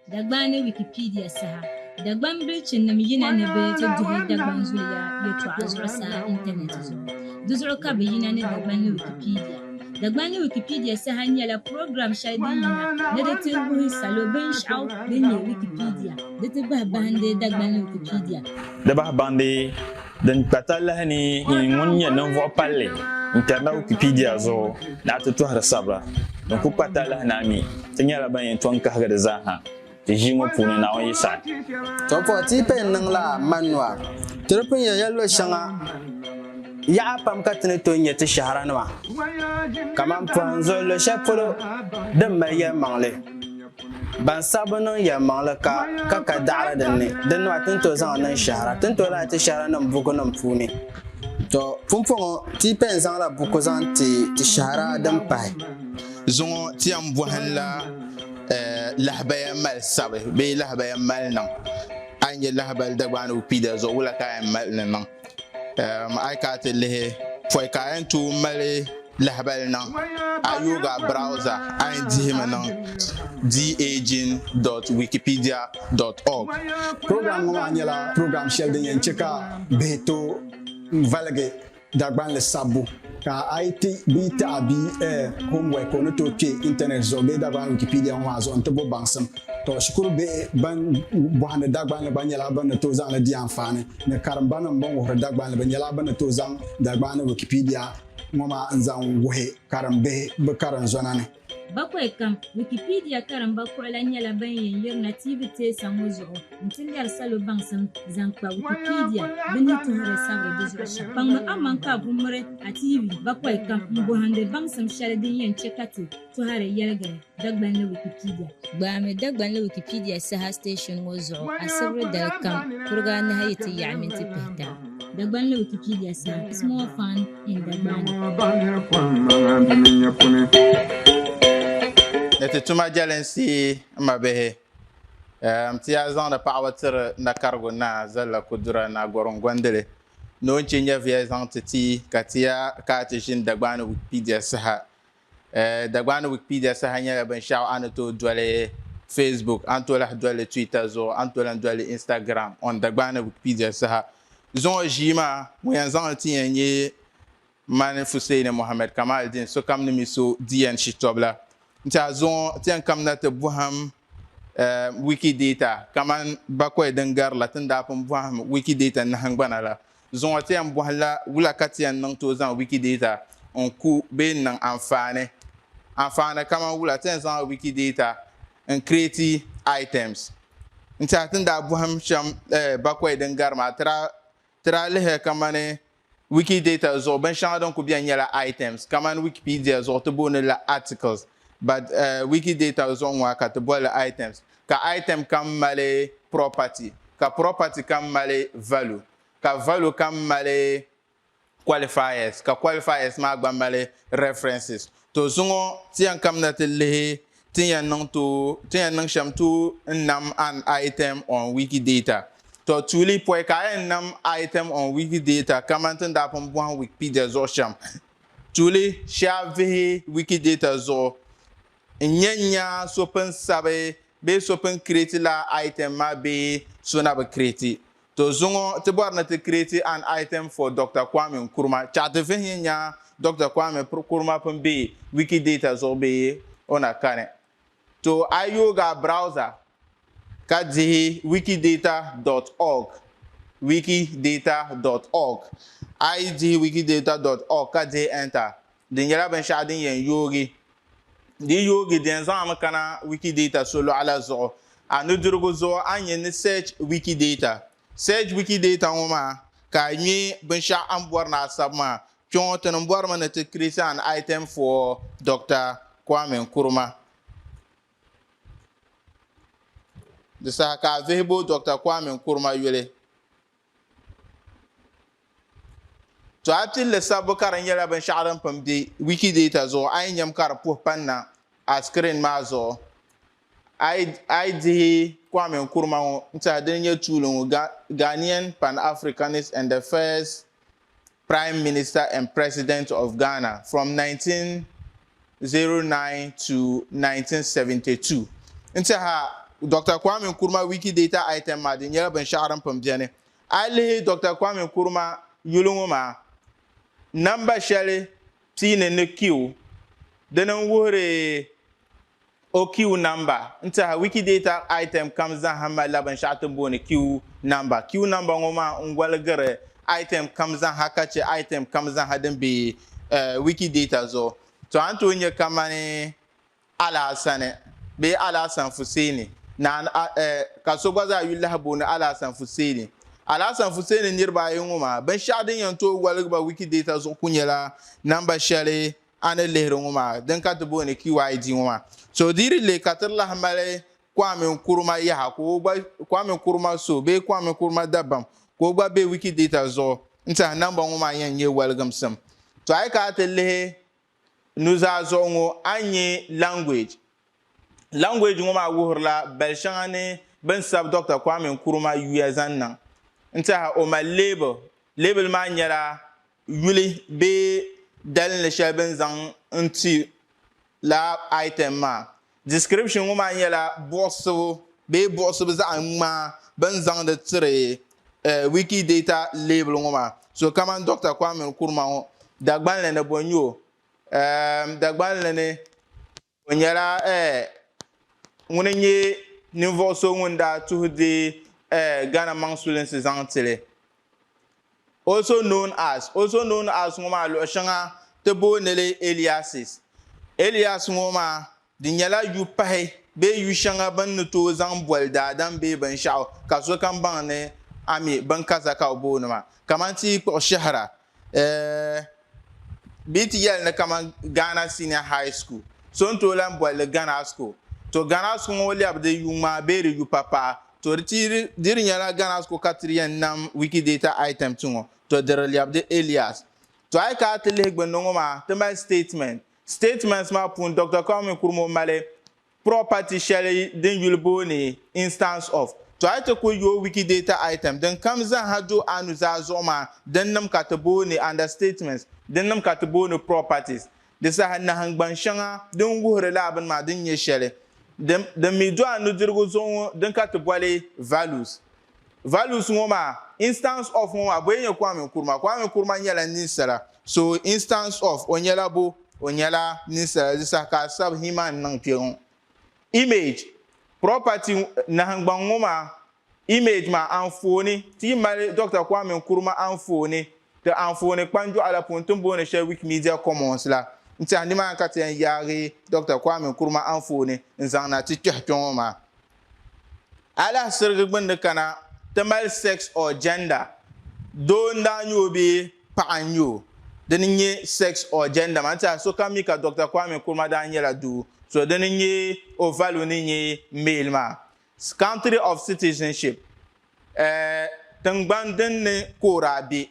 Dagban ni Wikipedia saha Dagban bilichinim yina ni bɛ ti duhi Dagban zuliya yɛtɔɣa zuɣusaa intanɛti zuɣu. Di zuɣu ka bɛ yina ni Dagban ni Wikipedia. Dagban ni Wikipedia saha nyɛla program shɛli din yina ni di ti wuhi salo binshɛɣu din nyɛ Wikipedia di ti bahi bahindi Dagban ni Wikipedia. Di bahi bahindi. Din kpa talahi ni yi ŋun nyɛ ninvuɣ palli n-kari na Wikipedia zuɣu ni a ti tɔhiri sabira din kul kpa talahi ni a mi ti nyɛla ban yɛn tɔŋ kahigi di zaa ha ti ʒii ŋɔ puuni, Naawuni yi saɣi. Tɔbuɣu ti yi paya n-niŋ la Manua, ti di pun yɛn ya luɣ shɛŋa yaɣa pam ka ti ni tooi nya ti shɛhira nima kaman pɔhim zuɣu luɣ shɛli polo din mali yɛlimaŋli. Ban saɣi bi niŋ yɛlimaŋli ka ka ka daɣiri din ni, din nɔhi ti ni tooi zaŋ niŋ shɛhira, ti ni tooi lahi ti shɛhiranim bukunim puuni. Tɔ! Pumpɔŋɔ, ti yi pɛn zaŋla buku zaŋ ti ti shɛhira din pahi. Zuŋɔ ti yɛn bɔhinla lahabaya mali sabi bee lahabaya mali niŋ. A yi nya lahabali Dagbaanigu Kpiida zuɣu, wula ka a yɛn mali ni niŋ? A yi kana ti lihi pɔi ka a yɛn tooi mali lahabali niŋ a yooga browza a yɛn dihimi niŋ daging.wikipedia.org program ŋɔ maa nyɛla program shɛli din yɛn chɛ ka bihi tooi valigi Dagbanli sabbu Ka a yi ti bia taɣi bia eh, homework o ni tooi kpe intanet zuɣu bee Dagbani Wikipedia ŋɔ maa zuɣu nti bo baŋsim. Tɔ, shikuru bihi ban bɔhindi Dagbanli gba nyɛla bɛ ni tooi zaŋ li di anfaani ni karimbanim bɛn wuhiri Dagbanli bɛ nyɛla bɛ ni tooi zaŋ Dagbani Wikipedia ŋɔ maa n-zaŋ wuhi karimbihi bɛ karinzɔna ni. Bakwai kam, Wikipedia karimba kuɣila nyɛla ban yɛn yirina tiivi teesa ŋɔ zuɣu nti lɛri salo baŋsim zaŋ kpa Wikipedia bɛ ni tuhiri sabiri di zuɣu shɛm. Kpaŋmi aman ka a ku miri a tiivi bakwai kam m-bɔhindi baŋsim shɛli din yɛn chɛ ka ti tɔhiri yɛligiri Dagbanli Wikipedia. Gbaami Dagbanli Wikipedia saha station ŋɔ zuɣu asibiri dali kam kuriga anahi yi ti yaɣi minti pihita. Dagbanli Wikipedia saha, Small Fund. Ni ti tuma jɛlinsi n ma bihi n ti yaa zaŋdi paɣaba tiri nakarigu naa Zalla Kudura Naa Gorim Gondili ni o ni chɛ nyɛviya zaŋ ti ti ka ti yaa ka a ti ʒini Dagbaani Wikipedia saha. Dagbani Wikipedia saha nyɛla binshɛɣu a ni tooi doli Facebook, a ni tooi lahi doli li Twitter zuɣu, a ni tooi lahi doli li Instagram. On Dagbani Wikipedia saha zuŋɔ ʒii maa, ŋun yɛn zaŋ li ti yɛn nyɛ mani Fuseini Mohammed Kamaldeen, sokam ni mi so di yɛn shitɔbu la. N-ti a zuŋɔ ti yɛn kamina ti bɔhim Wikidata kamani bakɔi din gari la ti ni daa pun bɔhim Wikidata nahingbana la. zuŋɔ ti yɛn bɔhi la wula ka ti yɛn niŋ tooi zaŋ Wikidata n-ku bee n-niŋ anfaani? Anfaani kamani wula? Ti yɛn zaŋla Wikidata n-creati items. N-tiɛhi ti ni daa bɔhim shɛm bakɔi din gari maa, ti daa ti daa lihiri kamani Wikidata zuɣu binshɛŋa din ku beni nyɛla items, kamani Wikipedia zuɣu ti booni li la articles, but Wikidata zuɣu ŋɔ ka ti boli li items. ka item kam mali property, ka property kam mali value, ka value kam mali qualifiers, ka qualifiers maa gba mali references. To zuŋɔ ti yɛn kamina ti lihi tin yɛn niŋ to tin yɛn niŋ shɛm to n nam an item on Wikidata. To tuuli pɔi ka a yɛn nam item on Wikidata kaman tin daa pun bɔhim Wikipedia zuɣu shɛm. Tuuli shee a vihi Wikidata zuɣu N nya n-nya so pun sabi bee so pun create la item maa bee so na bi create. To zuŋɔ ti bɔri ni ti create an item for Doctor Kwame Nkrumah. Chɛɣu ti vihi nya nya Doctor Kwame Nkrumah pun be Wikidata zuɣu bee o na kani. To a yi yooi a browser ka dihi wikidata dot org, wikidata dot org, a yi dihi wikidata dot org ka dihi enter, Di nyɛla binshɛɣu din yɛn yoogi. Di yi yoogi, di yɛn zaŋ a mi kana Wikidata solɔɣu la zuɣu. A nudirigu zuɣu, a ni nyɛ ni Search Wikidata. Search Wikidata ŋɔ maa ka a ŋme binshɛɣu a ni bɔri ni a sabi maa. Kpɛŋɔ ti ni bɔrimi ni ti create an item for Doctor Kwame Nkrumah. Di saha ka a vihi bo Doctor Kwame Nkrumah yuli. Tɔɣipilli sabbu ka di nyɛla binshɛɣu din pun be Wikidata zuɣu a yi nyam ka di puhi panna a sikirin maa zuɣu. A yi dihi Kwame Nkrumah ŋɔ n-tɛha dini nyɛ tuuli ŋɔ, Ghanaian Pan-Africanist and the first Prime Minister and President of Ghana from 1909 to 1972. N tiɛha Doctor Kwame Nkrumah Wikidata item maa di nyɛla binshɛɣu din pun beni. A yi lihi Doctor Kwame Nkrumah yuli ŋɔ maa, namba shɛli pii ni ni Q dini n-wuhiri O Kiw namba. N tɛha, Wikidata item kam zaaha malila binshɛɣu ti booni kiw namba. Kiw namba ŋɔ maa n goligiri item kam zaaha ka chɛ item kam zaaha din be Wikidata zuɣu. Tɔ a ni tooi nya kamani Alaasani bee Alaasan Fuseeni naan ka so gba zaa yuli lahi booni Alaasan Fuseeni. Alaasan Fuseeni niriba ayi ŋɔ maa binshɛɣu din yɛn tooi goligi ba Wikidata zuɣu ku nyɛla namba shɛli a ni lihiri ŋɔ maa din ka ti booni QID ŋɔ maa. So di di leei ka ti lahi mali Kwame Nkrumah yaha ka o gba Kwame Nkrumah so bee Kwame Nkrumah dabam ka o gba be Wikidata zuɣu n-tiɛhi namba ŋɔ maa yɛn nyɛ waligimsim. To a yi ka a ti lihi nuzaa zuɣu ŋɔ a ni nya language. Language ŋɔ maa wuhirila bali shɛŋa ni bɛ ni sabi Dɔkta Kwame Nkrumah yuya zaŋ niŋ n-tiɛha o mali leebili. Leebili maa nyɛla yuli bee dalinli shɛli bɛ ni zaŋ n-ti laa item maa. Description ŋɔ maa nyɛla buɣisibu bee buɣisibu zaɣ ŋmaa bɛ ni zaŋdi tiri Wikidata label ŋɔ maa. So kamani Dɔkta Kwame Nkrumah ŋɔ, Dagbanli ni bɔ n-nyɛ o? Eem, Dagbanli ni. O nyɛla ŋuni n-nyɛ ninvuɣ so ŋun daa tuhi di Ghana maŋ sulinsi zaŋ ti li, also known as. Also known as ŋɔ maa luɣ shɛŋa ti booni li aliases. Alias ŋɔ maa di nyɛla yu pahi bee yu shɛŋa bɛ ni ni tooi zaŋ boli daadam bee binshɛɣu ka sokam baŋ ni a mi binkaza ka o booni maa, kamani ti yi kpuɣi Shɛhira. eh, bee ti yɛli ni kaman Ghana Senior High School, so n-tooi lan boli li Ghana School. To Ghana School ŋɔ lɛbi di yuŋmaa bee di yupapaɣa. To di ti di di nyɛla Ghana School ka ti yɛn nam Wikidata item ti ŋɔ. To di di lɛbi di alias. To a yi ka a ti lihi gbunni ŋɔ maa, ti mali statement. Statements maa puuni Doctor Kwame Nkrumah mali property shɛli din yuli booni instance of. To a ti ku yooi Wikidata item din kam zaaha do anu zaa zuɣu maa dinnim ka ti booni understatements, dinnim ka ti booni properties. Di saha nahingbaŋ shɛŋa din wuhiri lala bini maa din nyɛ shɛli din mi do a nudirigu zuɣu ŋɔ din ka ti boli values. Values ŋɔ maa, Instance of ŋɔ maa, bɔ n-nyɛ Kwame Nkrumah? Kwame Nkrumah nyɛla ninsala. So, Instance of, o nyɛla bɔ? O nyɛla ninsala. Di saha ka a sabi He-Man niŋ kpe ŋɔ. Image, Property, Nahingbaŋ ŋɔ maa, Image maa, Anfooni, Ti yi mali Dɔkta Kwame Nkrumah anfooni ti anfooni kpanjɔɣu la puuni ti ni booni shɛli Wikimedia Commons la, n-tɛha nimaani ka ti yɛn yaagi Dɔkta Kwame Nkrumah anfooni n-zaŋ na ti kpɛhi kpe ŋɔ maa. Alahisirigi gbunni kana ti mali sex or gender, doo n daa nyɛ o bee paɣa n nyɛ o, dini n nyɛ sex or gender maa, n tiɛhi sokam mi ka Doctor Kwame Nkrumah daa nyɛla doo, so dini n nyɛ o value ni nyɛ male maa. Country of citizenship, eh, tingbani din ni ka o daa be,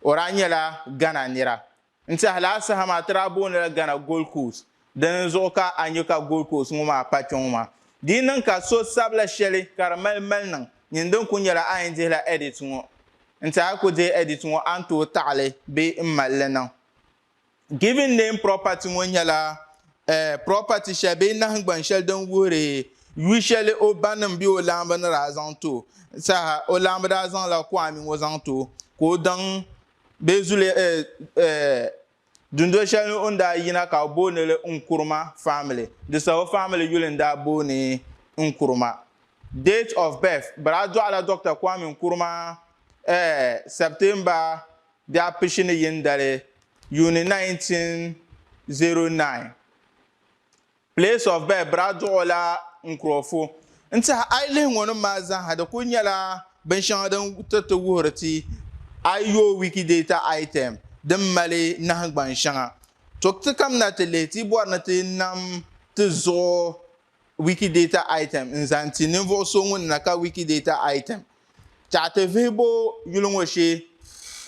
o daa nyɛla Ghana nira. N tiɛhi lala saha maa ti daa booni la Ghana Gold Coast, dini zuɣu ka a nya ka Gold Coast ŋɔ maa pa kpɛŋɔ maa. Di yi niŋ ka so sabila shɛli ka di mali maliniŋ, nyin din kuli nyɛla a yɛn dihi la edit ŋɔ. N tiɛhi a ku dihi edit ŋɔ a ni tooi taɣi li bee n mali li niŋ. Given name property ŋɔ nyɛla property shɛli bee nahingbaŋ shɛli din wuhiri yu shɛli o banim bee o laambi ni daa zaŋ ti o saha. O laambi daa zaŋla Kwame ŋɔ zaŋ ti o ka o daŋ bee zuliya eh, eh, dundoli shɛli ni o ni daa yina ka o booni li Nkuruma family. Di saha o family yuli n daa booni Nkuruma. Date of birth, bɛ daa dɔɣila Dɔkta Kwame Nkuruma eh, September di a pishi ni yini dali yuuni 1909. Place of birth, Biraduɣu la Nkurɔfu. N tiɛhi a yi lihi ŋɔ nim maa zaaha di kuli nyɛla binshɛŋa din tiriti wuhiri ti a yi yooi Wikidata item din mali nahingbaŋ shɛŋa. To ti kamina ti lihi ti bɔri ni ti nam ti zuɣu Wikidata item n zaŋ ti ninvuɣu so ŋun na ka Wikidata item. Tɛha ti vihi bo yuli ŋɔ shee,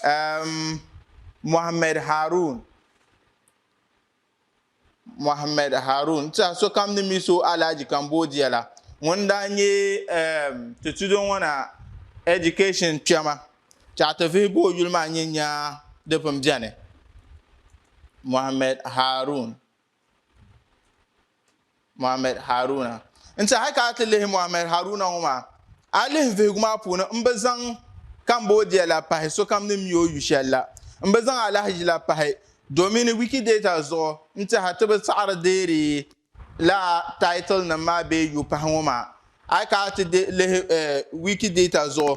M. Mohammed Harun. Mohammed Harun tiɛha sokam ni mi so Alhaji Cambodia la ŋun daa nyɛ ti tudoŋɔna education kpɛma tiɛha ti vihigu o yuli maa nyɛ nyaa di pun beni. Mohammed Harun. Muhammad Haruna. N tiɛhi ka a ti lihi Muhammad Haruna ŋɔ maa, a lihi vihigu maa puuni m bi zaŋ Cambodia la pahi sokam ni mi o yu shɛli la. M bi zaŋ alahiʒi la pahi domini Wikidata zuɣu n tiɛhi a ti bi saɣiri deeri lala title nim maa bee yu pahi ŋɔ maa. Ayi ka a ti lihi Wikidata zuɣu,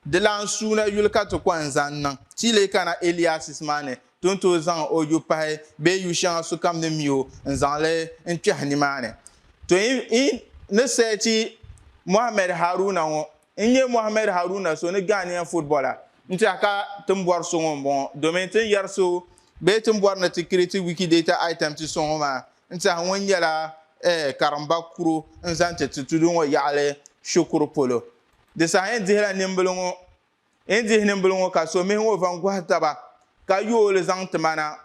di lan suuna yuli ka ti kɔŋ zaŋ niŋ, ti yi leei kana aliases maa ni Ti ni tooi zaŋ o yu pahi bee yu shɛŋa sokam ni mi o n-zaŋ li n-kpɛhi nimaani. To yi ni seeti Mohammed Haruna ŋɔ, n nya Mohammed Haruna so ni Ghanaian footballer n-tɛha ka ti ni bɔri so ŋɔ m-bɔŋɔ domin ti ni yɛri so bee ti ni bɔri ni ti create Wikidata item ti so ŋɔ maa n-tɛha ŋun nyɛla karimba kuro n-zaŋ ti ti tudu ŋɔ yaɣili Shukuru polo. Di saha yɛn dihila nimbila ŋɔ N dihi nimbili ŋɔ ka so mihi ŋɔ van gɔhi taba ka yooi li zaŋ ti ma na.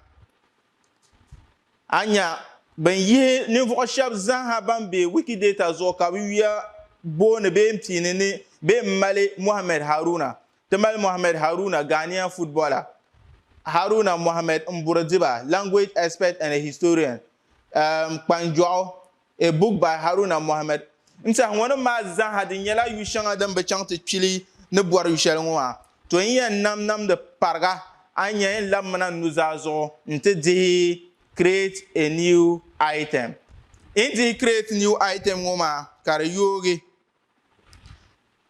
A nya bɛn yihi ninvuɣ shɛb zaaha ban be Wikidata zuɣu ka bɛ yuya booni bɛ yɛn piini ni bɛ yɛn mali Mohammed Haruna. Ti mali Mohammed Haruna, Ghanaian footballer, Haruna Mohammed Mburudiba, language expert and a historian, um, kpanjɔɣu, A book by Haruna Mohammed N tɛhi ŋɔ nim maa zaaha di nyɛla yu shɛŋa din bi chaŋ ti kpili ni bɔri yu shɛli ŋɔ maa. To n yɛn nam namdi pariga a ni yɛn labimina n nuzaa zuɣu n ti dihi Create a new item. N dihi Create new item ŋɔ maa ka di yoogi.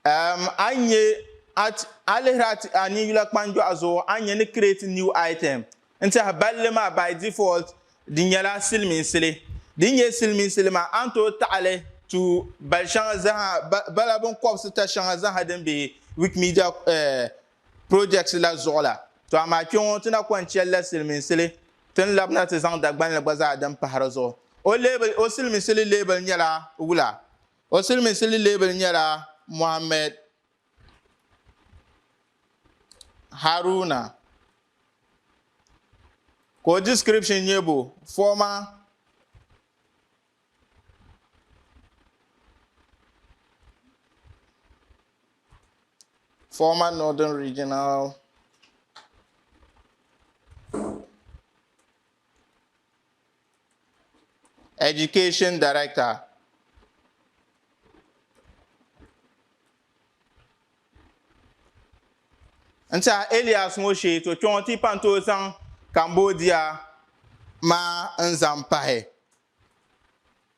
Um, a nya at, a lihiri at a ninyula kpanjɔɣu zuɣu, a nya ni create new item. N tiɛhi balli maa by default di nyɛla siliminsili. Din nyɛ siliminsili maa, a ni tooi taɣili tu bali shɛŋa zaha, ba, bala binkɔbisi ta shɛŋa zaha din be Wikimedia eh, projects la zuɣu la. To amaa kpe ŋɔ ti na kɔŋ cheli la siliminsili, ti ni labina ti zaŋ Dagbanli gba zaa din pahi di zuɣu. O label, o siliminsili label nyɛla wula? O silimiinsi lileebili nyɛla Mohammed Haruna ka o description nyɛ bo former former Northern Regional Education Director n tiɛha Elias ŋɔ shee to kpɛŋɔ ti pan tooi zaŋ Cambodia maa n zaŋ pahi.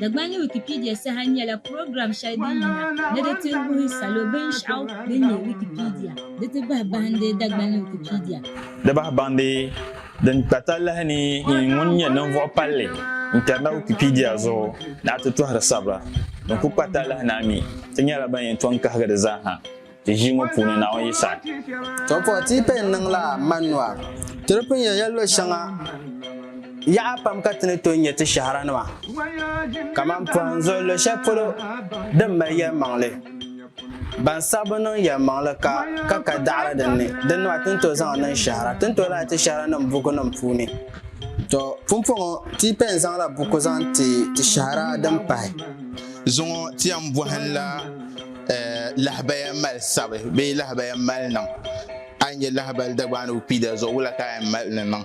Dagbani Wikipedia saha nyɛla program shɛli din yina ni di ti wuhi salo binshɛɣu din nyɛ Wikipedia. Di ti bahi bahindi Dagbani Wikipedia. Di bahi bahindi din kpa talahi ni yi ŋun nyɛ ninvuɣ palli n-kpɛrina Wikipedia zuɣu ni a ti tɔhiri sabira din ku kpa talahi ni a mi ti nyɛla ban yɛn tɔŋ kahigi di zaa ha. Ti ʒii ŋɔ puuni Naawuni yi saɣi. Tɔbpɔɣu ti yi pɛn niŋ la Manua. Ti di pun yɛn ya lo shɛŋa yaɣa pam ka ti ni tooi nyɛ ti shɛharanima kaman pɔhim zuɣu lo shɛli polo din mali yɛlimaŋli. Ban saɣi bi niŋ yɛlimaŋli ka ka kali daɣiri din ni, din nima ti ni tooi zaŋ niŋ shɛhira. Ti ni tooi lahi ti shɛhiranim bukunim puuni. Tɔ! Pumpɔŋɔ ti yi pɛn zaŋ la buku zaŋ ti ti shɛhira din pahi. Zuŋɔ ti yɛn bɔhim la. Lahabaya mali sabi bee lahabaya mali niŋ a yi nyɛ lahabali Dagbani Wikipedia zuɣu wula ka a yɛn mali ni niŋ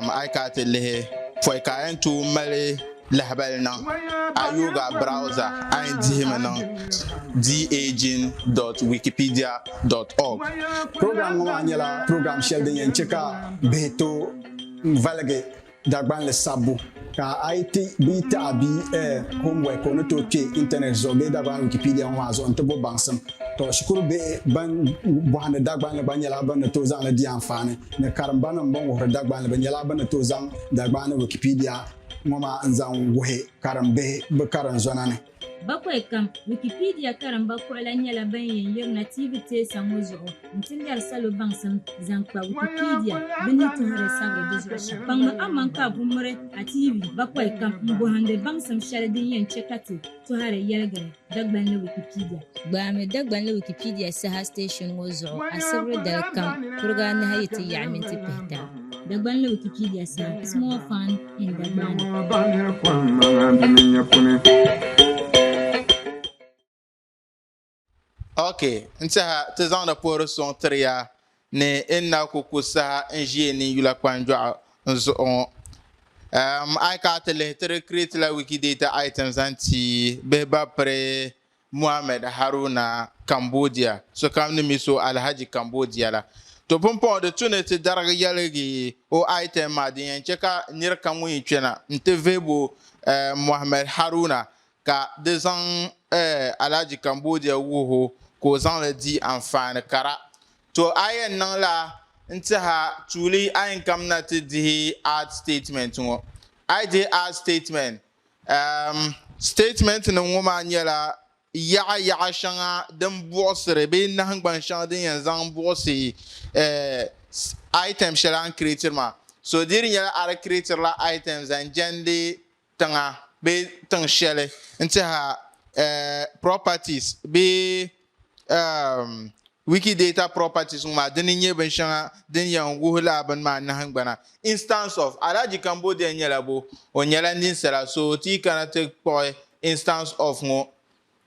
a yi kana ti lihi pɔi ka a yɛn tooi mali lahabali niŋ a yooi a browser a yɛn dihimi niŋ dagin.wikipedia.org Program ŋɔ maa nyɛla program shɛli din yɛn chɛ ka bihi tooi valigi Dagbanli sabbu, Ka a yi ti bia taɣa bia ɛɛ homework o ni tooi kpe internet zuɣu bee Dagbani Wikipedia ŋɔ maa zuɣu n-ti bo baŋsim. Tɔ shikuru bihi ban bɔhindi Dagbanli gba nyɛla bɛ ni tooi zaŋ li di anfaani ni karimbanim bɛn wuhiri Dagbanli bɛ nyɛla bɛ ni tooi zaŋ Dagbani Wikipedia ŋɔ maa n-zaŋ wuhi karimbihi bɛ karinzɔna ni. Bakwai kam, Wikipedia karimba kuɣila nyɛla ban yɛn yirina TV teesa ŋɔ zuɣu n-ti lɛri salo baŋsim zaŋ kpa Wikipedia bɛ ni tɔhiri sabiri di zuɣu shɛm. Kpaŋmi aman ka a ku miri a TV bakwai kam m-bɔhindi baŋsim shɛli din yɛn chɛ ka ti tɔhiri yɛligiri Dagbanli Wikipedia. Gbaami Dagbanli Wikipedia saha station ŋɔ zuɣu asibiri dali kam kuriga anahi yi ti yaɣi minti pihita. Dagbanli Wikipedia saha, Small Fund. ok n tiɛha ti zaŋdi puhiri suŋ tiri ya ni e ni na ku ku saha n ʒi e nin yula kpanjɔɣu n zuɣu ŋɔ um, a yi ka a ti lihi tiri create la wikidata item zaŋ ti bihi ba piri Mohammed Haruna Cambodia sokam ni mi so Alhaji Cambodia la. To pumpɔŋɔ di tu ni ti darigi yɛligi o item maa din yɛn chɛ ka nir kam ŋun yi kpɛna nti vihi bo Mohammed Haruna ka di zaŋ Alhaji Cambodia wuhi o ka o zaŋ li di anfaani kara. To a yɛn niŋ la n-tiha tuuli a yinkam na ti dihi ad statement ŋɔ. A yi dihi ad statement Sitatimɛnti nim ŋɔ maa nyɛla yaɣa yaɣa shɛŋa din buɣisiri bee nahangbaŋ shɛŋa din yɛn zaŋ buɣisi item shɛli a ni kireetiri maa. So di di nyɛla a di kireetirila item zaŋ jɛndi tiŋa bee tiŋ shɛli n-tihi a properties bee um, Wikidata properties ŋɔ maa dini nyɛ bin shɛŋa din yɛn wuhi laa bini maa nahingbana. Instance of, Alhaji Cambodia nyɛla bo? O nyɛla ninsala, so ti yi kana ti kpuɣi instance of ŋɔ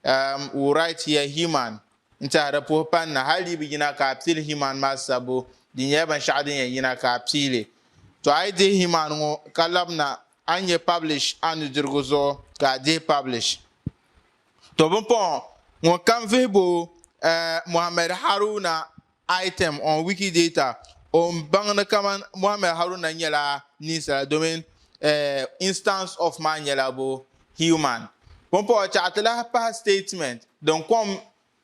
um, u write here He-Man n-tiɛhi di puhi pani na, hali di bi yina ka a pili He-Man maa sabbu, di nyɛla binshɛɣu din yɛn yina ka a piili. To a yi dihi He-Man ŋɔ ka labina, a ni nyɛ publish a nudirigu zuɣu ka a dihi publish. To bimpɔŋɔ ŋɔ kam vihibu Mohammed Haruna item on Wikidata o ni baŋ ni kaman Mohammed Haruna nyɛla ninsala domin instance of maa nyɛla bo human. Pumpɔŋɔ chaɣi ti lahi pahi statement din kom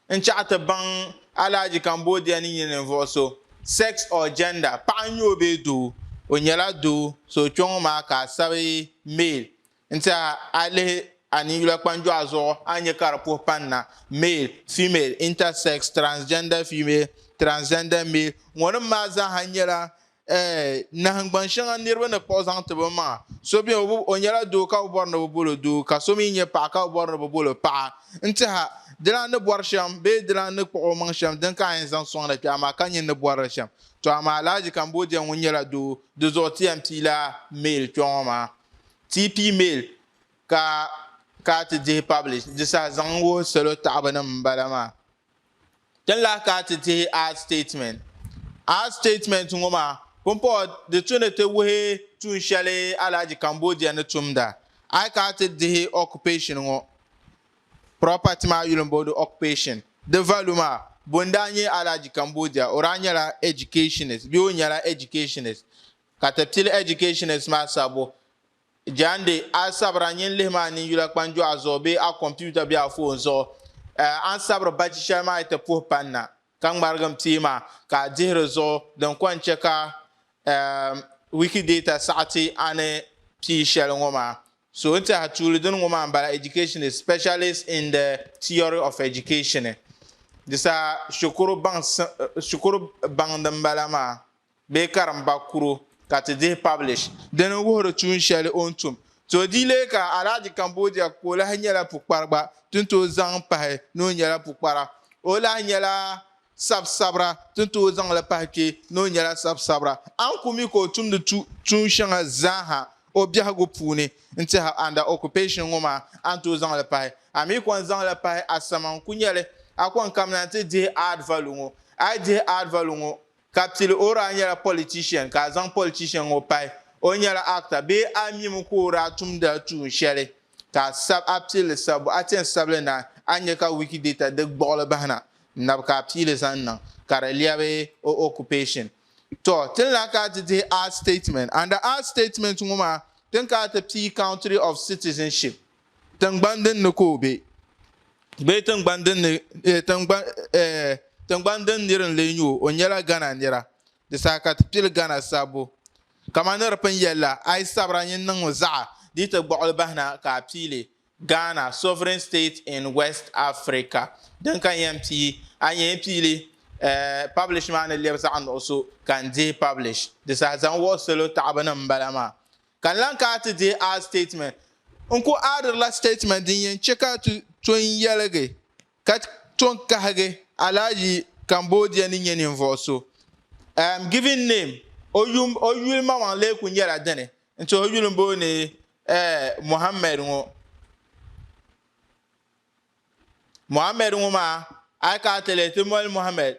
n chaɣi ti baŋ Alhaji Cambodia ni nyɛ ninvuɣu so, sex or gender, paɣa n nyɛ o bee doo, o nyɛla doo so kpeŋɔ maa ka a sabi male N-tiɛha a yi lihi a ninyula kpanjɔɣu zuɣu a ni nya ka di puhi pani na, male, female, intersex, transgender female, transgender male, ŋɔ nim maa zaaha nyɛla eh, nahingbaŋ shɛŋa niriba ni kpuɣi zaŋ ti bi maŋa. So beni o bi, o nyɛla doo ka bi bɔri ni bi bol o doo ka so mi nyɛ paɣa ka bi bɔri ni bi bol o paɣa. N-tiɛha, dilan ni bɔri shɛm bee dilan ni kpuɣi o maŋ shɛm din ka a yɛn zaŋ sɔŋda kpɛɣu maa ka nyin ni bɔri li shɛm. To amaa Alhaji Cambodia ŋun nyɛla doo, di zuɣu ti yɛn piila male kpɛŋɔ maa. TP mail ka ka ti dihi publish di saha zaŋ wuhi salo taɣibu nim n bala maa tin lahi ka ti dihi ad statement ad statement ŋo maa pumpɔɣu di tu ni ti wuhi tuun shɛli alhaji cambodia ni tumda a yi ka ti dihi occupation ŋo property maa yuli n boodi occupation di value maa bun daa nyɛ alhaji cambodia o daa nyɛla educationist bee o nyɛla educationist Ka ti pili educationist maa sabbu jaande a sabira nyin lihi maa nini yula kpanjɔɣu zuɣu bee a computer bee a phone zuɣu. A ni sabiri bachi shɛli maa yi ti puhi pani na ka ŋmarigi n pia maa ka a dihi di zuɣu din kɔŋ chɛ ka Wikidata saɣi ti a ni pii shɛli ŋɔ maa. So n tɛha tuuli dini ŋɔ maa n bala educationist, specialist in the theory of education. Di saha shikuru baŋ shikuru baŋ din bala maa bee karimba kuro ka ti dihi publish. Di ni wuhiri tuun shɛli o ni tum. Ti o di leei ka Alhaji Cambodia ka o lahi nyɛla pukpari gba tin tooi zaŋ pahi ni o nyɛla pukpara. O lahi nyɛla sab sabira tin tooi zaŋ li pahi kpe ni o nyɛla sab sabira. A ni ku mi ka o tumdi tuun shɛŋa zaaha o biɛhigu puuni n-tɛha under occupation ŋɔ maa, a ni tooi zaŋ li pahi. A mi kɔŋ zaŋ li pahi Asama n-ku nyɛli. A kɔŋ kamina nti dihi Aadvalu ŋɔ. A yi dihi Aadvalu ŋɔ Ka bɛ tili o daa nyɛla politician ka a zaŋ politician ŋɔ pahi o nyɛla actor bee a mimi ka o daa tumdila tuun shɛli ka a sab a pilli sabbu a ti yɛn sabili naai a ni nya ka Wikidata di gbuɣili bahi na n nabi ka a piili zaŋ niŋ ka di lɛbi o occupation. Tɔ ti ni lahi kana ti dihi a statement. Under a statement ŋɔ maa ti ni kana ti pii country of citizenship. Tiŋgbani din ni ka o be bee tiŋgbani din ni eh, tiŋgbani eh, tiŋgbani din nir n lee nyu o nyɛla Ghana nira di saha ka ti pili Ghana sabbu kama ni di pun yɛli la a yi sabira nyin niŋmi zaɣa di yi ti gbuɣili bahi na ka a piili Ghana sovereign state in West Africa din ka n yɛn pii a ni yɛn piili eh, publish maa ni lɛbi zaɣa nuɣuso ka n dihi publish di saha zaŋ wuhi salo taɣibu ni m bala maa Ka n lan ka a ti deei a sitatimɛnt. N ku aadirila sitatimɛnt din yɛn chɛ ka a ti to n yɛligi ka to n kahigi Alhaji Cambodia ni nyɛ ninvuɣ so. M given name, o yum, o yuli maŋmaŋ lee kuli nyɛla dini nti o yuli m-booni Mohammed ŋɔ. Mohammed ŋɔ maa, a yi ka a ti lihi ti moli Mohammed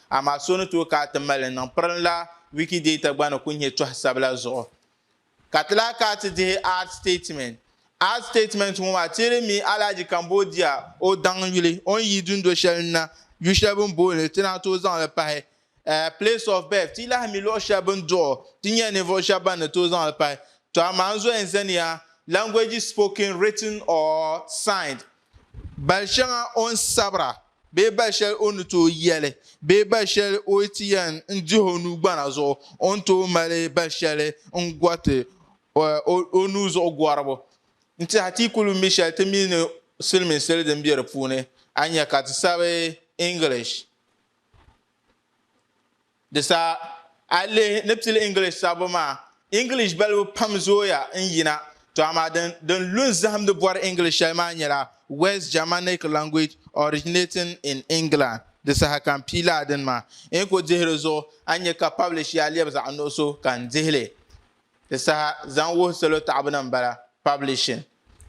amaa so ni tooi ka a ti mali li niŋ pirinla Wikidata gba ni ku nyɛ tɔha sabila zuɣu. Ka ti lahi ka a ti dihi Art Statement. Art Statement ŋɔ maa teeri mi Alhaji Cambodia o daŋ yuli o ni yi dundo shɛli n-na yu shɛli bɛ ni booni li ti naan tooi zaŋ li pahi Place of Birth. Ti yi lahi mi luɣ shɛli bɛ ni duɣi o ti nyɛla ninvuɣ shɛba ban ni tooi zaŋ li pahi. Tɔ amaa n zɔya n zaniya Languages Spoken, Written or Signed. Bal shɛŋa o ni sabira bee bal shɛli o ni tooi yɛli bee bal shɛli o yi ti yɛn n dihi o nuu gbana zuɣu o ni tooi mali bal shɛli n gɔriti o nuu zuɣu gɔribu n-tihi a ti yi ku lu mi shɛli ti mi ni siliminsili din be di puuni a nya ka ti sabi English Di sa, a yi lihi ni pili English sabbu maa, English balibu pam zooya n-yina, tɔ amaa din din lu n-zahim ni bɔri English shɛli maa nyɛla West Germanic language originating in England. Di saha ka m-pii lala dini maa, n yi ku dihi di zuɣu, a ni nya ka publish ya lɛbi zaɣ nuɣiso ka n dihi li. Di saha zaŋ wuhi salo taɣibu ni m-bala, publishing,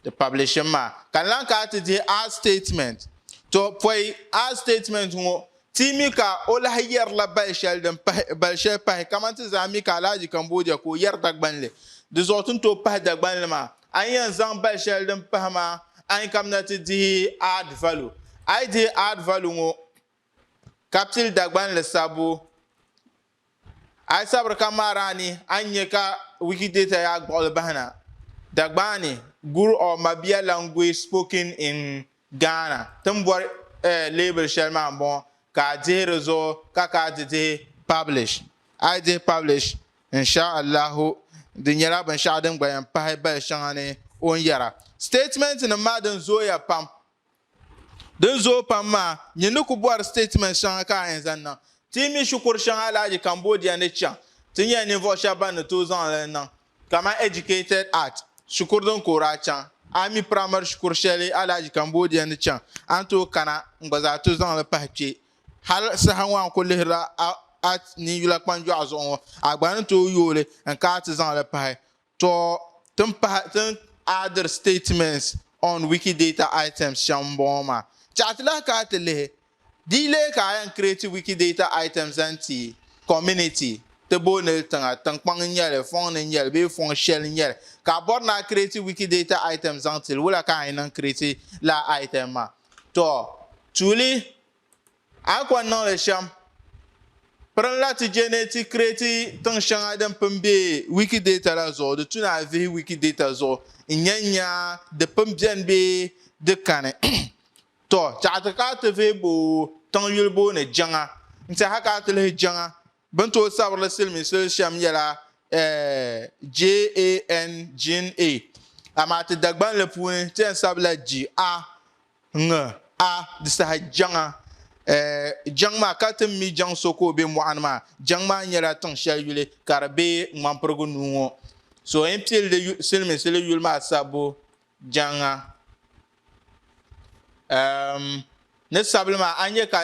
di publishing maa. Ka n lan kana ti dihi a statement. Tɔ! Pɔi a statement ŋɔ, ti yi mi ka o lahi yɛrila bal shɛli din pahi, bal shɛli pahi, kaman ti zaa mi ka Alhaji Kambodja ka o yɛri Dagbanli. Di zuɣu ti ni tooi pahi Dagbanli maa, a ni yɛn zaŋ bal shɛli din pahi maa, a ni kamina ti dihi add value. A yi dihi add value ŋɔ, ka pili Dagbanli sabbu, A yi sabiri ka ŋmaari a ni, a ni nya ka Wikidata yaa gbuɣili bahi na. Dagbaani, Gur or Mabia language spoken in Ghana timbɔri leebili shɛli maa m-bɔŋɔ ka a dihi di zuɣu ka ka di dihi publish. A yi dihi publish, insha Allahu, di nyɛla binshɛɣu din gba yɛn pahi bali shɛŋa ni o ni yɛra. Statementnima maa din zooya pam Din zooi pam maa nyɛ ni ku bɔri siteetimɛnti shɛŋa ka a yɛn zaŋ niŋ. Ti yi mi shikuru shɛŋa alahaji Cambodia ni chaŋ, ti nyɛla ninvuɣ shɛba ban ni tooi zaŋ li niŋ kamani Educated at shikuru din koori a chaŋ. A yi mi piramari shikuru shɛli alahaji Cambodia ni chaŋ, a ni tooi kana n-gba zaa ti zaŋ li pahi kpe. Hal saha ŋɔ a ni ku lihirila a ninyula kpanjɔɣu zuɣu ŋɔ, a gba ni tooi yooi li n-kai ti zaŋ li pahi Tɔ, tin pahi tin addr statements on Wikidata items shɛm m-bɔŋɔ maa. Tɛha ti lahi ka a ti lihi di yi leei ka a yɛn create Wikidata item zaŋ ti community, ti booni li tiŋa, tiŋkpaŋ n-nyɛ li, fɔŋ ni n-nyɛ li bee fɔŋ shɛli n-nyɛ li, ka a bɔri ni a create Wikidata item zaŋ ti li, wula ka a yi niŋ create lala item maa? Tɔ, tuuli. A yi kɔŋ niŋli shɛm, pirinla ti je ni ti kireti tiŋ shɛŋa din pun be Wikidata la zuɣu, di tu ni a vihi Wikidata zuɣu n-nya n-nya di pun beni bee di kani. Tɔ! Tɛɣu ti ka a ti vihi bo tiŋ yuli booni Jiŋa. N-tɛha ka a ti lihi Jiŋa bɛn tooi sabirili siliminsili shɛm yɛla JAN, Jin A, amaa ti Dagbanli puuni ti yɛn sabila Ji A Ŋ, A, di saha jaŋa, eh, jaŋ maa, ka ti mi jaŋ so ka o be mɔɣuni maa, jaŋ maa nyɛla tiŋ shɛli yuli ka di be ŋmanpirigu nuu ŋɔ. So n pili di siliminsili yuli maa sabbu jaŋa. Ehm, ni sabili maa, a nya ka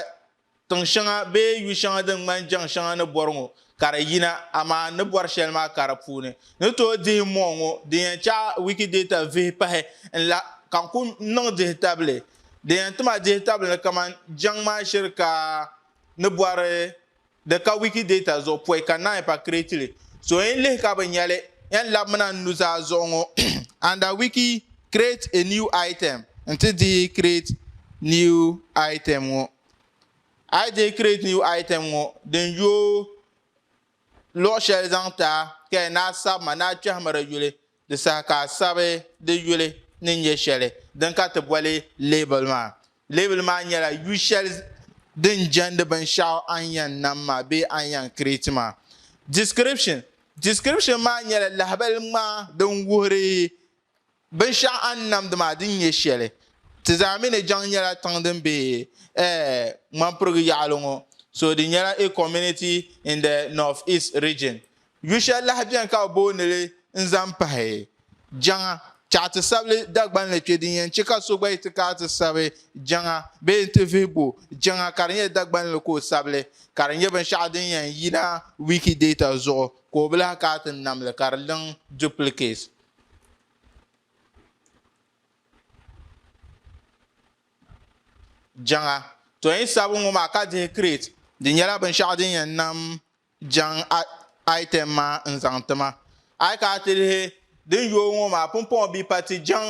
Tiŋ shɛŋa bee yu shɛŋa din ŋmani jɛŋ shɛŋa ni bɔri ŋɔ ka di yina, amaa n ni bɔri shɛli maa ka di puuni ni tooi dihi mɔɣu ŋɔ din yɛn chaɣi Wikidata vihi pahi n la ka n ku niŋ dihitabili din yɛn ti ma dihitabili ni kamani jɛŋ maa shiri ka ni bɔri di ka Wikidata zuɣu pɔi ka naai pa create li. So yɛn lihi ka bi nya li, yɛn labimina n nuzaa zuɣu ŋɔ under wiki create a new item nti dihi create new item ŋɔ. A yi dihi create new item ŋɔ din yooi luɣi shɛli zaŋ ti a ka yɛn naa sabima ni a kpɛhimiri yuli Di saha ka a sabi di yuli ni nyɛ shɛli din ka ti boli leebili maa. Leebili maa nyɛla yu shɛli din jɛndi binshɛɣu a ni yɛn nam maa bee a ni yɛn create maa. Description Description maa nyɛla lahibali ŋmaa din wuhiri binshɛɣu a ni namdi maa din nyɛ shɛli. Ti zaa mi ni jaŋ nyɛla tiŋ din be eh Ŋmanpirigu yaɣili ŋɔ so di nyɛla a community in the North East Region Yu shɛli lahi beni ka bɛ booni li n zaŋ pahi Jaŋa chaɣa ti sabili Dagbanli kpe din yɛn che ka so gba yi ti kaai ti sabi Jaŋa bee n ti vihi bo Jaŋa ka di nyɛ Dagbanli ka o sabili ka di nyɛ binshɛɣu din yɛn yina Wikidata zuɣu ka o bi lahi kaai ti nam li ka di niŋ duplicate Jaŋa tɔyin sabu ŋɔ maa ka dihi create di nyɛla binshɛɣu din yɛn nam Jaŋ item maa n-zaŋ ti ma. A yi ka a ti lihi din yooi ŋɔ maa, pumpɔŋɔ bia pa ti jaŋ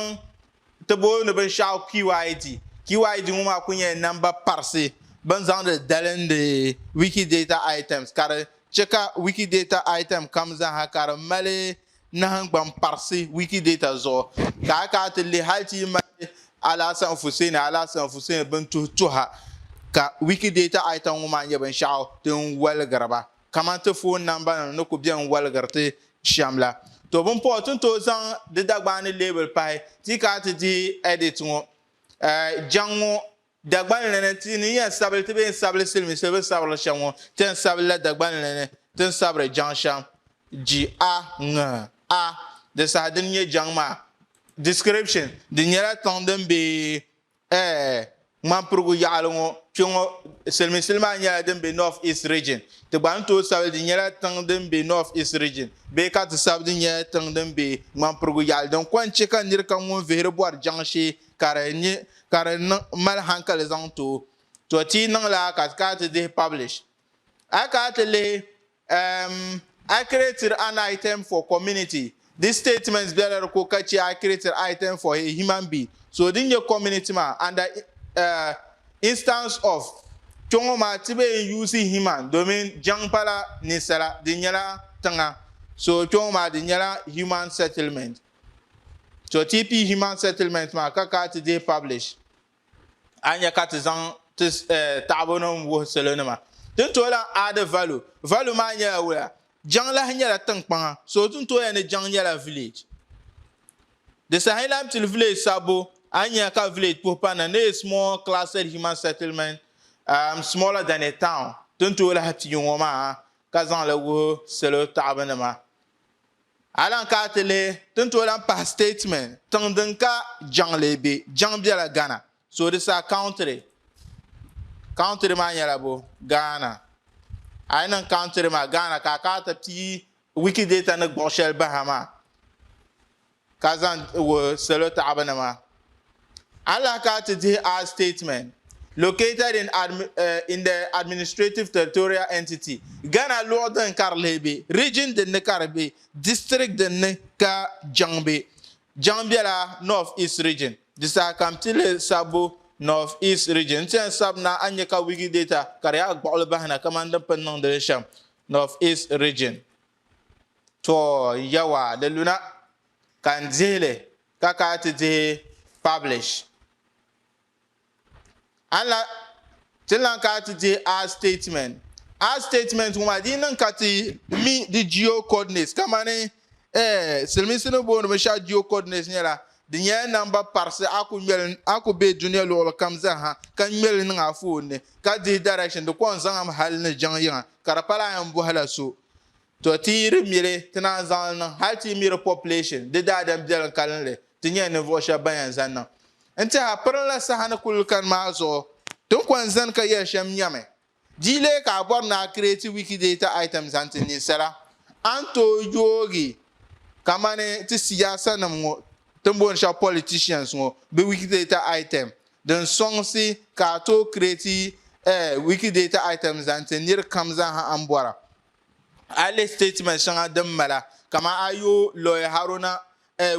ti booi ni binshɛɣu QID. QID ŋɔ maa kuli nyɛla namba parisi bɛ ni zaŋdi dalindi Wikidata items ka di chɛ ka Wikidata item kam zaa ha ka di mali nahangbaŋ parisi Wikidata zuɣu ka a kana ti lihi hali ti yi mali Alhassan Fuseni, Alhassan Fuseni bin tuhi tuha ka Wikidata ayita ŋɔ maa nyɛ binshɛɣu din waligiri ba kamani ti foon namba nim ni ku bɛ n waligiri ti shɛm la. To bin pahi ti ni tooi zaŋ di Dagbaani leebili pahi ti yi kana ti dihi edit ŋɔ eh, jaŋ ŋɔ Dagban li ni, ti ni yɛn sabili ti bee n-sabili silimiinsi bɛ sabirili shɛm ŋɔ, ti ni sabili la Dagban li ni ti ni sabiri jaŋ shɛm, ji a ŋ a, di saha dini nyɛ jaŋ maa. Description, Di nyɛla tiŋ din be ɛɛ ŋmanpirigu yaɣili ŋɔ kpe ŋɔ. Silimiinsili maa nyɛla din be North East Region. Ti gba ni tooi sabili di nyɛla tiŋ din be North East Region bee ka ti sabi di nyɛla tiŋ din be ŋmanpirigu yaɣili din kɔŋ chɛ ka nir kam ŋun vihiri bɔri jaŋ shee ka di nyɛ ka di mali hankali zaŋ tooi, to ti yi niŋla ka ti kana ti dihi publish. A yi kana ti lihi um I created an item for community, this statement bela di ko ka chɛ I created item for a human being, so din nyɛ community maa under um instance of kpe ŋɔ maa ti bee n use human domin jaŋ pala ninsala di nyɛla tiŋa so kpe ŋɔ maa di nyɛla human settlement. To ti pii human settlement maa ka ka ti dee publish a nya ka ti zaŋ ti eh, taɣibu nim wuhi salo nima tin tooi lan add value value maa nyɛla wuya jiŋlahi nyɛla tinkpaŋa so tin tooya ni jiŋ nyɛla village di saha lan pili village sabbu a nya ka village puhi pa na ni a small clustered human settlement um, smaller than a town tin tooi lahi pii ŋo maa ka zaŋli wuhi salo taɣibu nima A lan ka a ti lihi ti ni tooi lan pahi statement tiŋ din ka jaŋ lee be. Jaŋ bela Ghana. So di sa country. Country maa nyɛla bo? Ghana. A yi niŋ country maa Ghana ka a ka a ti pii Wikidata ni gbuɣi shɛli bahi a maa. ka zaŋ wuhi salo taɣibinima. Allah ka ti dihi a statement located in in the administrative territorial entity Ghana luɣi din ka di leei be, region din ni ka di be, district din ni ka jiŋ be. Jiŋ bela North East Region. Di saha ka m ti lihi sabbu North East Region. N ti yɛn sabi na a ni nya ka Wikidata ka di yaa gbuɣili bahi na kamani din pun niŋdi li shɛm. North East Region. To Yawɛ di luna, ka n dihi li ka ka ti dihi publish. An la ti lan ka ti dihi a statement. A statement ŋɔ maa di niŋ ka ti mi di geocoordinates kamani eh, silimiinsi ni booni binshaɣu geocoordinates nyɛla di nyɛla namba parisi a ku ŋmɛli a ku be dunia luɣuli kam zaha ka ŋmɛli niŋ a foon ni ka dihi direction di kɔŋ zaŋm hal ni jiŋ yiŋa ka di pala a yɛn bɔhila so To ti yi di miri ti naan zaŋ li niŋ hali ti yi miri population di daadam biɛlim kalinli ti nyɛla ninvuɣu shɛba ban yɛn zani niŋ n tɛha pirinla saha ni kuli kani maa zuɣu ti ni kɔni zani ka yɛli shɛm nyɛmi di yi leei ka a bɔri ni a create wikidata item zaŋ ti ninsala a ni tooi yoogi kamani ti siyaasa nim ŋɔ ti ni booni shɛba politicians ŋɔ bɛ wikidata item din sɔŋsi ka a tooi kireeti Wikidata item zaŋ ti nir kam zaaha a ni bɔra. A lihi sitatimɛnt shɛŋa din mala, kaman a yo Loye Haruna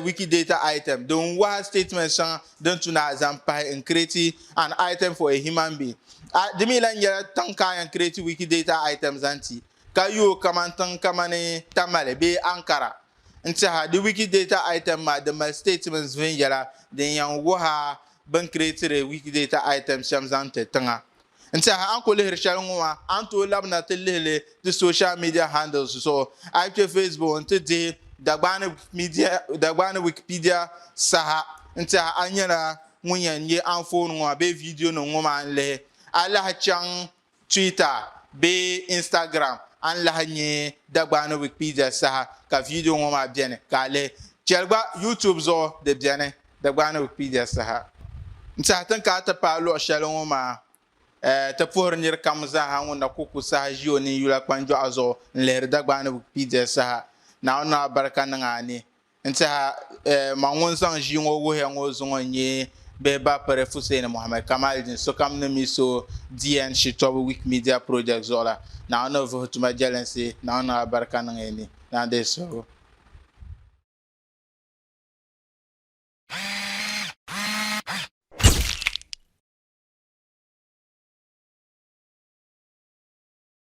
Wikidata item din waha sitatimɛnt shɛŋa din tu na zaŋ pahi n kireeti An Item for a Human Being. A di mi lan nyɛla tiŋ ka a yɛn kireeti Wikidata item zaŋ ti, ka yo kaman tiŋ kamani Tamale bee Ankara N-tiɛha, di Wikidata item maa di mali statements viɛnyɛla din yɛn wuhi a bɛn creatiri Wikidata item shɛm zaŋ ti tiŋa. N-tiɛha, a ni ku lihiri shɛli ŋɔ maa, a ni tooi labina ti lihi li ti social media handles zuɣu. A yi kpe Facebook nti dihi Dagbaani Wikipedia saha, n-tiɛha a nyɛla ŋun yɛn nya anfooni ŋɔ maa bee videonim ŋɔ maa n-lihi. A lahi chaŋ Twitter bee Instagram a ni lahi nya Dagbaa ni Wikipedia saha ka viidiyo ŋɔ maa beni ka a lihi. Cheli gba YouTube zuɣu di beni Dagbaa ni Wikipedia saha. N saha tin ka a ti paai luɣi sheli ŋɔ maa eh ti puhiri niri kam zaaha ŋun na ku ku saha ʒi o ninyula kpanjɔɣu zuɣu n lihiri Dagbaa ni Wikipedia saha. Naawuni ni o abarika niŋ a ni N tiɛha ma ŋun zaŋ ʒii ŋɔ wuhiya ŋɔ zuŋɔ n-nyɛ bihi Bapere Fuseni Mohammed Kamaldeen sokam ni mi so DN shitɔbu Wikimedia Project zuɣu la. Naawuni ni o vuhi tuma jɛlinsi, Naawuni niŋ alibarika niŋ ya ni, ni a di yi suhigu.